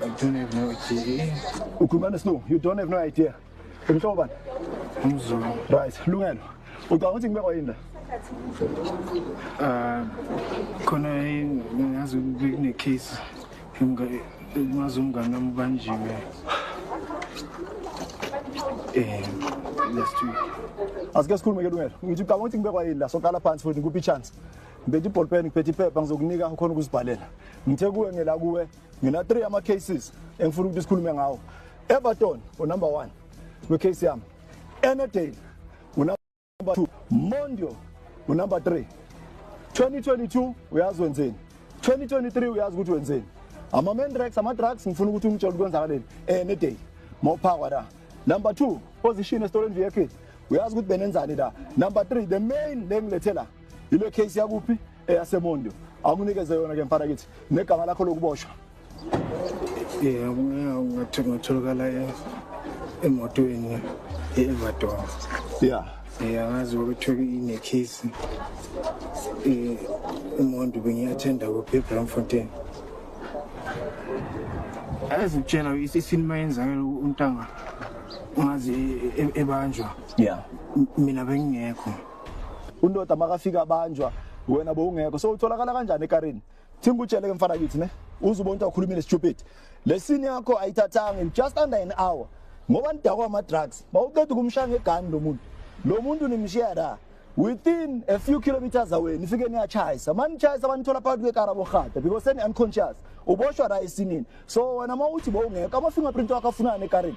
I don't have no idea. Ukhuluma nesilungu. You don't have no idea. Umhlobo bani? Umzulu. Right. Lungelo. Ucabanga ukuthi ngibekwa yini la? Ah, khona ngazi bekune case. Ngazi umngane wami ubanjiwe. Eh, last week. Asike sikhulume ke Lungelo. Ngithi ucabanga ukuthi ngibekwa yini la? Soqala phansi futhi ngikuphi chance. Ngibethe iballpen, ngibethe iphepha ngizokunika ukhona ukuzibhalela. Ngithe kuwe ngela kuwe ngina 3 ama cases engifuna ukuthi sikhulume ngawo Everton o number 1 we case yami Enedale u number 2 Mondio u number 3 2022 uyazi wenzeni 2023 uyazi ukuthi wenzeni ama Mendrax ama drugs ngifuna ukuthi ungitshele ukuthi kwenzakaleni Enedale mawuphakwa la number 2 position estoleni vehicle uyazi ukuthi benenzani la number 3 the main lengilethela ile case yakuphi eyasemondo akunikeze yona ke mfana kithi negama lakho lokuboshwa yeah ngathi ngatholakala emotweni e-Everton yeah yeah ngazi ukuthi inekhisi eh umuntu bengiyathenda kuphi eBramfontein azitshela isinima yenzakela umntanga ngazi e-, e-, ebanjwa yeah mina bengingekho undoda makafika abanjwa wena bowungekho so utholakala kanjani ekarini thingutshele ke mfana kithi ne uzubona ukuthi ukhulumile stupid lesini yakho ayithathanga in just under an hour ngoba nidakwa ama drugs bawuqeda ukumshaya ngegani lo muntu lo muntu nimshiya la within a few kilometers away nifike niyachayisa manichayisa banithola phakathi kwekara borhada because seni unconscious uboshwa la esinini so wena uma uthi bowungekho ama fingerprint wakho afunani ekareni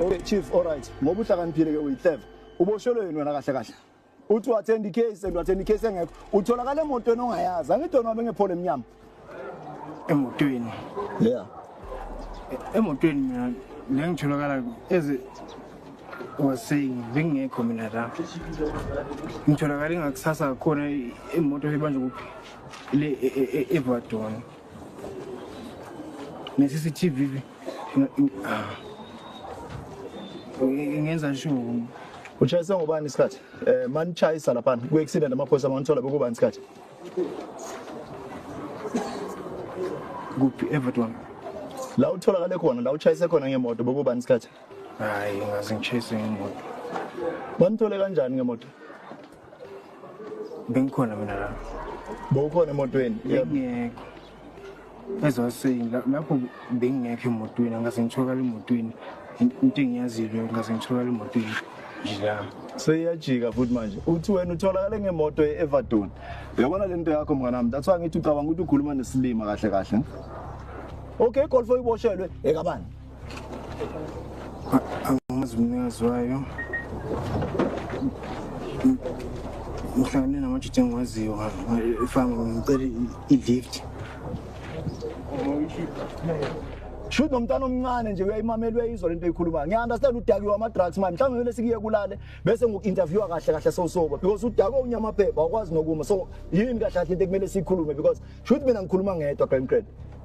okay chief all right ngoba uhlakaniphile ke uyihleva uboshelwe yini wena kahle kahle uthi wathenda icase and wathenda icase engekho utholakala emotweni ongayazi angidoni wabe ngephole emnyama emotweni yeah emotweni mina la ngitholakala eze was saying bengingekho mina la ngitholakale ngakusasa khona imoto ebanjwa kuphi le e, e, e, evadoni ne-CCTV ngenza sure utshayisa ngobani isikhathi um manitshayisa laphana kwi-accident amaphoyisa manithola bekubani isikhathi kuphi everton la utholakale khona la utshayise khona ngemoto bekubani isikhathi hayi ngaze ngitshayise ngemoto banithole kanjani ngemoto bengikhona mina la bowukhona emotweni bengekho as I was saying lapho bengingekho emotweni angase ngitholakala emotweni into engiyazile ngase ngitholakala emotweni njilami seyiyajika futhi manje uthi wena utholakale ngemoto e-everton uyabona le nto yakho mnganami that's why ngithi ucabanga ukuthi ukhuluma nesilima kahle kahle okay golfo iboshelwe ekabani angimazi umnikazi wayo ngihlangane namajita engiwaziyo ifamu ngicela i-lift shuthi nomntana omncane nje uyayimamela uyayizwa lento eyikhulumayo ngiya-understand udakiwe wama-drugs mani mhlawumbe kumele sikuye kulale bese ngu-interviewa kahle kahle sosoba because udakwe unyamaphepha awukwazi nokuma so yini kahle kahle into ekumele siyikhulume because shuthi mina ngikhuluma ngedwa bemqede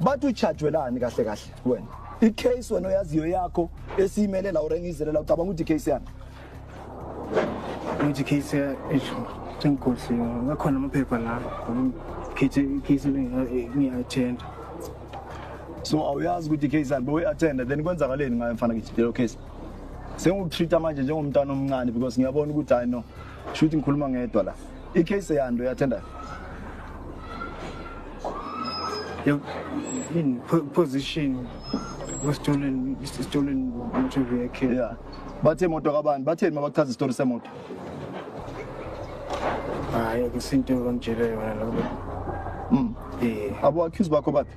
Bathi uchajwelani kahle kahle wena. I case wena oyaziyo yakho esiyimele la urengizelela ucabanga ukuthi case yani. Ngithi case ya isho ngikhosi ngakhona amaphepha la. Case case ngi attend. So awuyazi ukuthi case yani boy attend then kwenzakaleni ngayo mfana ngithi leyo case. Sengikutreat manje njengomntana omncane because ngiyabona ukuthi hayi no. Shuthi ngikhuluma ngedwa la. Icase yando yathenda. Yo in position was stolen stolen motor vehicle. Yeah. Bathe motor kabani? Batheni mabachaza istory semoto? Hayi kusinto kanjeleyo wena lokho. Mm. Eh. Abo accuse bakho bathi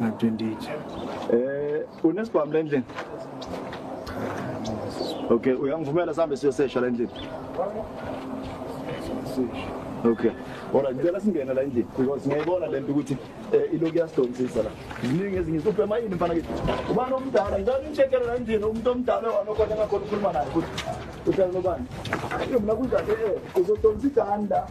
na 28 eh unesibhamu le ndlini okay uyangivumela sambe siyosesha la endlini okay ora ngicela singene la endlini because ngiyayibona lento ukuthi eh, iloku yasidonsisa la ziningi ezinye izinto ubhema yini mfana kithi ubani omdala ngicela ngitshekele la endlini umuntu omdala wami okhona ngakhona ukhuluma naye ukuthi uthanda ubani mina kunjani eh uzodonsa iganda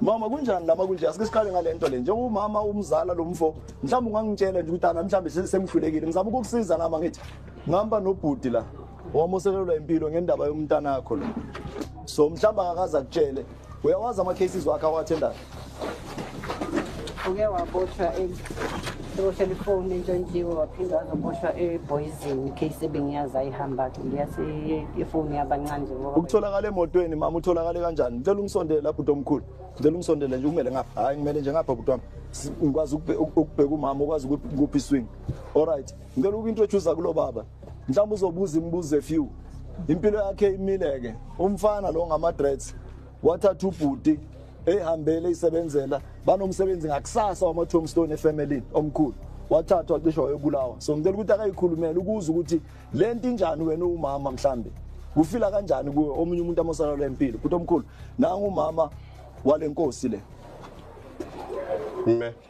mama kunjani lama kunje asike siqale ngale nto le njengomama umzala lo mfo mhlawumbe ungangitshela nje ukuthi ana mhlawumbe sengihlulekile ngizama ukukusiza nama ngithi ngihamba nobhuti la owamoselelwa impilo ngendaba yomntana akho lo so mhlawumbe akakaze akutshele uyawazi ama-cases wakhe awathendayo uke waboshwa Ngiboshela ifoni entshontshiwe waphinde wazoboshwa eboyizini case ebengiyazi ayihamba-ke ngiyase ifoni yabancane nje ngoba ukutholakala emotweni mama utholakale kanjani ngicela ungisondele lapho bhuti omkhulu ngicela ungisondele nje kumele ngapha hhayi ngimele nje ngapha bhuti wami S- ngikwazi ukubhe- uk- ukubheka umama ukwazi ukuphi kuphi iswing allright ngicela uku-introduce kulo baba mhlawumbe uzobuza imibuzo efew impilo yakhe imile-ke umfana lo ngama-dreads wathatha ubhuti eyihambele isebenzela banomsebenzi ngakusasa wama-tombstone efamilini omkhulu wathathwa cishe wayobulawa so ngicela ukuthi akayikhulumele ukuze ukuthi le nto injani wena uwumama mhlambe kufila kanjani kuwe omunye umuntu amosana lwempilo futhi omkhulu nangumama wale nkosi le mme